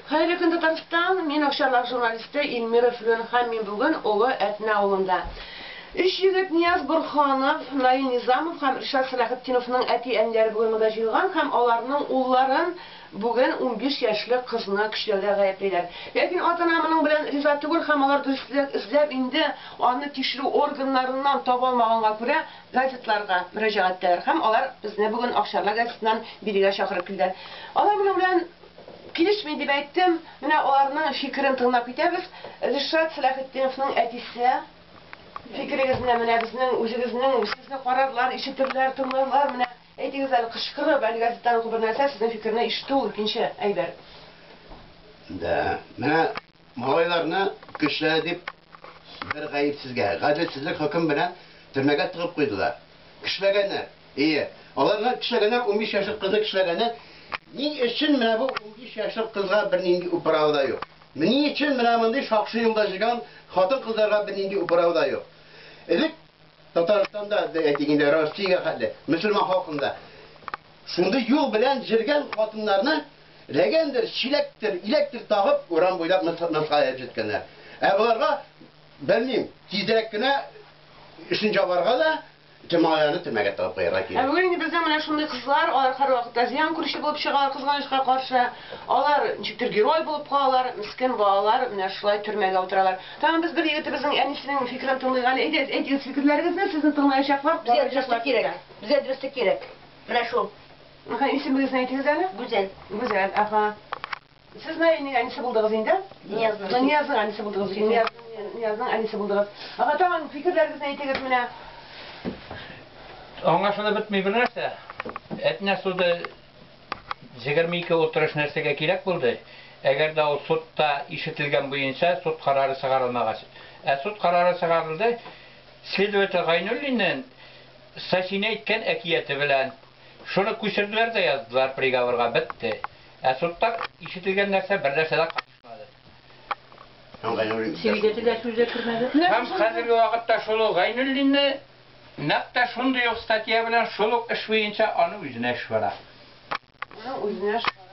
Хәерле көн Татарстан, мин Акчарлак журналисты Ильмира Флүн һәм мин бүген Олы Әтнә авылында. Өч егет Нияз Борһанов, Наил Низамов һәм Ришат Сәләхетдиновның әти-әниләре бүген монда җыелган һәм аларның улларын бүген унбиш яшьлек кызны көчләүдә гаеплиләр. Ләкин ата-ана моның белән риза түгел һәм алар дөресрәк эзләп инде аны тикшерү органнарыннан табалмаганга күрә, газетларга мөрәҗәгать итәләр һәм алар безне бүген Акчарлак газетыннан бирегә чакырып килделәр. Алар моның белән килешми, дип әйттем. Менә аларның фикерен тыңлап китәбез. Ришат Сәләхетдиновның әтисе, фикерегезне менә безнең үзегезнең, сезне карарлар, ишетерләр, тыңларлар, менә әйтегез әле, кычкырып, әле газеттан уку бер нәрсә, сезнең фикерне ишетү ул икенче әйбер. Да, менә малайларны көчләре дип Бер гаепсезгә, гаделсезлек хөкем белән төрмәгә тыгып куйдылар. Кешеләгәннәр. Ие, аларны кешеләгәннәр, унбиш яшьлек кызны кешеләгәннәр. Ни өчен менә бу унбиш яшьлек кызга бернинди управа да юк? Ни өчен менә мондый шакшы юлда җыйган хатын-кызларга бернинди управа да юк? Элек Татарстанда, әйтик инде, Россиягә хәтле, мөселман халкында шундый юл белән җөргән хатыннарны, Ләгәндер, чиләктер, иләктер тагып, урам буйлап ныскаеп җиткәннәр. Ә боларга, белмим, тизрәк кенә өчен җабарга да, томауларны төрмәгә тыгып куярга кирәк. Ә бүген инде безнең менә шундый кызлар, алар һәрвакытта зыян күрүче булып чыгалар, кызганычка каршы. Алар ничектер герой булып калалар, мескен балалар менә шулай төрмәгә утыралар. Тагын без бер егетебезнең әнисенең фикерен тыңлыйк әле. Әйдәгез, әйтегез фикерләрегезне, сезне тыңлаячаклар, караячаклар сезгә. Безгә дөреслек кирәк. Безгә дөреслек кирәк. Менә шул. Әһә, исемегезне әйтегез әле? Гүзәл. Гүзәл, әһә. Сез Наилнең әнисе булдыгыз инде? Ниязның. Һәм Ниязның әнисе булдыгыз. Нияз, Ниязның әнисе булдыгыз. Әһә, тагын фикерләрегезне әйтегез менә. Аңлашылып бетми бер нәрсә. Әтнә суды 22 утырыш нәрсәгә кирәк булды? Әгәр дә ул судта ишетелгән буенча суд карары чыгарылмагач. Ә суд карары чыгарылды следователь Гайнуллиннын Сасине әйткән әкияте белән. Шуны күчерделәр дә яздылар приговорга, бетте. Ә судта ишетелгән нәрсә бер нәрсә дә катышмады. Һәм Гайнуллин дә шул Свидетель дә сүз дә кермәде. Һәм хәзерге вакытта шул ук Гайнуллинны нәкъ тә шундый ук статья белән шул ук эш буенча аны үзенә эш бара. Аны үзенә эш бара.